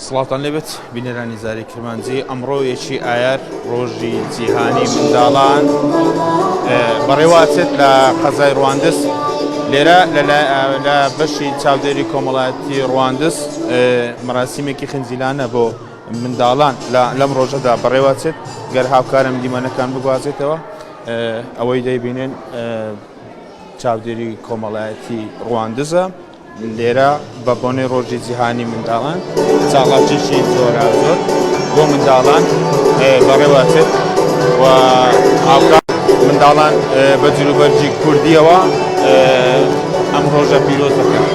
سڵاوتان لێبێت بینەرانی زاری کرمانجی ئەمڕۆ یەکی ئایار ڕۆژی جیهانی منداڵان بەڕێواتێت لە قەزای ڕواندس لێرە لە بەشی چاودێری کۆمەڵایەتی ڕواندس مەراسیمێکی خنجیلانە بۆ منداڵان لەم ڕۆژەدا بەڕێوەچێت گەر هاوکارم دیمەنەکان بگوازێتەوە ئەوەی دەیبینێن چاودێری کۆمەڵایەتی ڕواندزە لێرە بە بۆنەی ڕۆژی جیهانی منداڵان چاڵاکیی جۆراوجۆر بۆ منداڵان بەڕێوەچێت و هاوکات منداڵان بە جلوبەرگی کوردییەوە ئەم ڕۆژە پیرۆز دەکەن.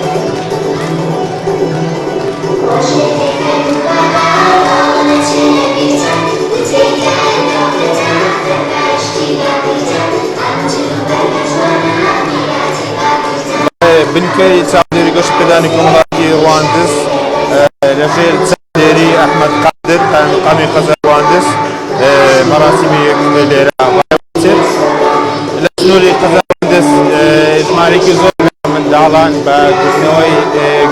بنکەی چاودێری گۆشت پێدانی کۆمەڵایەتی ڕواندز لەژێر چاودێری ئەحمەد قادر قایمقامی قەزا ڕواندز مەراسیمی لێرە ڕێوەچێت لە سنووری قەزا ڕواندز ژمارێکی زۆر منداڵان بە گوتنەوەی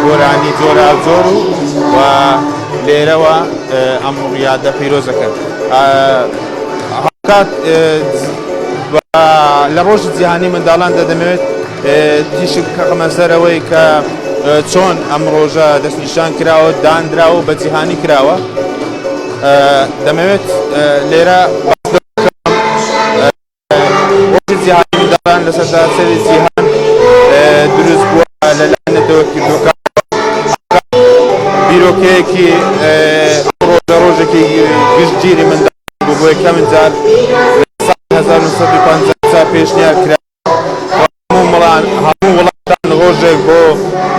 گۆرانی جۆرا جۆر و و لێرەوە ئەم ڕیادە پیرۆزەکەن هاوکات لە ڕۆژی جیهانی منداڵاندا دەمەوێت تیشک بکەمە سەرەوەی کە چۆن ئەم ڕۆژە دەستنیشان کراوە دانراوە بە جیهانی کراوە دەمەوێت لێرە ڕۆژی جیهانی منداڵان لە سەرتاسەری جیهان دروست بووە لەلایەن نەتەوە کردوەکان بیرۆکەیەکی ڕۆژە ڕۆژێکی گشتگیری منداڵان بۆ بۆ یەکەمین جار لە ساڵی 1950 پێشنیار کرا هەموو وڵاتان ڕۆژێک بۆ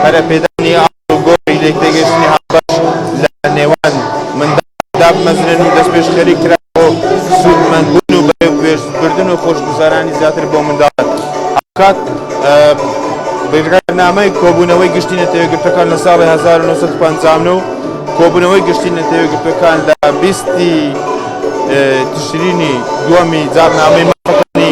پەرەپێدانی ئاڵ و گۆڕی لێکتێگەیشتنی هاوبەش لە نێوان منداڵان دابمەزرێن و دەستپێشخەری کرا بۆ سوودمەندبوون و بەرێوەبردن و خۆشگوزەرانی زیاتر بۆ منداڵان. هاوکات بڕیارنامەی کۆبوونەوەی گشتی نەتەوەیەکگرتووەکان لە ساڵی هەزار و نۆ سەد و پەنجا و نۆ و کۆبوونەوەی گشتی نەتەوەیەکگرتووەکان لە بیست ی تشرینی دووەمی جاڕنامەی مافەکانی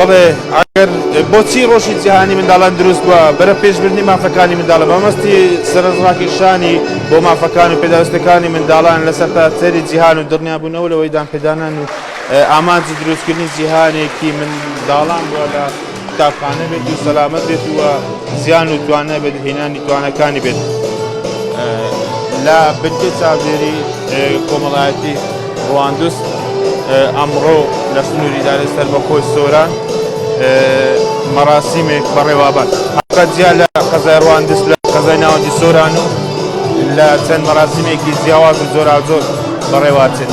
بەڵێ ئەگەر بۆچی ڕۆژی جیهانی منداڵان دروست بووە بەرە پێشبردنی مافەکانی منداڵە بەمەستی سەرڕاکیشانی بۆ مافەکان و پێداویستەکانی منداڵان لەسەر تا سەری جیهان و دڵنیابوونەوە لەوەی دانپێدانان و ئامانجی دروستکردنی جیهانێکی منداڵان بووە لە قوتابخانە بێت و سەلامەت بێت و زیان و توان نەبێت هێنانی توانەکانی بێت لە بنکەی چاودێری کۆمەڵایەتی ڕواندوس ئەمڕۆ لە سنووری دارە سەر بە خۆی سۆران مەراسیمێک بەڕێوابات قەجیا لە قەزای ڕواندس لە قەزای ناوەندی سۆران و لە چەند مەراسیمێکی جیاواز و جۆراجۆر بەڕێواتێت.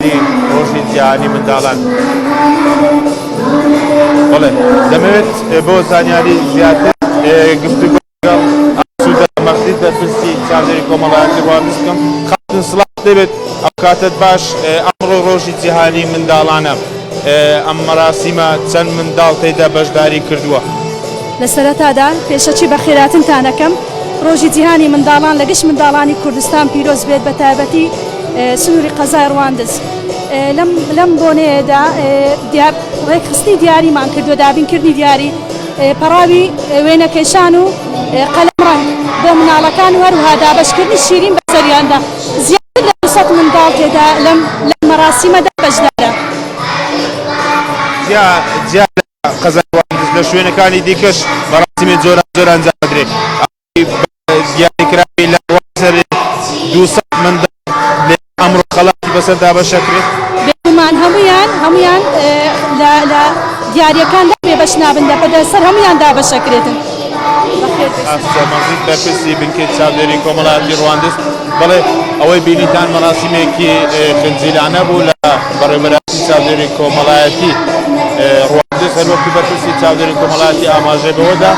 بەمەبەستی ڕۆژی جیهانی منداڵان بەڵێ دەمەوێت بۆ زانیاری زیاتر گفتوگۆ لەگەڵ ئاسوودە مەغزی بەرپرسی چاودێری کۆمەڵایەتی واپس بکەم خاتون سڵاح دەبێت ئەو کاتت باش ئەمڕۆ ڕۆژی جیهانی منداڵانە ئەم مەراسیمە چەند منداڵ تێدا بەشداری کردووە لە سەرەتادا پێشەکی بە خێراتنتان ئەکەم. ڕۆژی جیهانی منداڵان لە گشت منداڵانی کوردستان پیرۆز بێت بە تایبەتی سنووری قەزای ڕواندز. لەم لەم بۆنەیەدا دیار ڕێکخستنی دیاریمان کردووە دابینکردنی دیاری پەڕاوی وێنەکێشان و قەلەمڕەنگ بۆ مناڵەکان و هەروها دابەشکردنی شیرین بەسەریاندا زیاتر لە دوو سەد منداڵ تێدا لەم لەم مەراسیمەدا بەشدارە. جیا جیا لە قەزای واندز لە شوێنەکانی دیکەش مەراسیمی جۆراوجۆر ئەنجامدرێ. ئاوی دیاریکراوی لە ڕوانسەری دوو سەد منداڵ لەیەک ئەمڕۆ خەڵاتی بەسەر دابەشەکرێ. بێگومان هەموویان هەموویان لە لە دیارییەکاندا بێبەش نابن، لە پەدەر سەر هەموویان دابەشەکرێتن. ئاسیا مەزید بەرپرسی بنکەی چاودێری کۆمەڵایەتی ڕواندز بەڵێ ئەوەی بینیتان مەراسیمێکی خنجیلانە بوو لە بەڕێوەبەراتی چاودێری کۆمەڵایەتی ڕواندز هەروەکی بەرپرسی چاودێری کۆمەڵایەتی ئاماژەی بەوەدا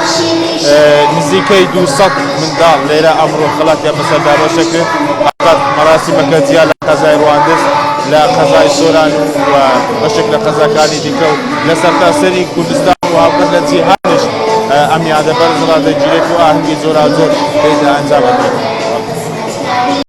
نزیکەی 200 منداڵ لێرە ئەمڕۆ خەڵاتیان بەسەر دابەشە کرد ئەقەت مەراسیمەکە جیا لە قەزای ڕواندز لە قەزای سۆران و بەشێک لە قەزاکانی دیکە و لە سەرتاسەری کوردستان و هاوکات لە جیهانیش ئەم یادە بەرز ڕادەگیرێت و ئاهەنگی جۆراوجۆر پێی دەئەنجامەدرێت.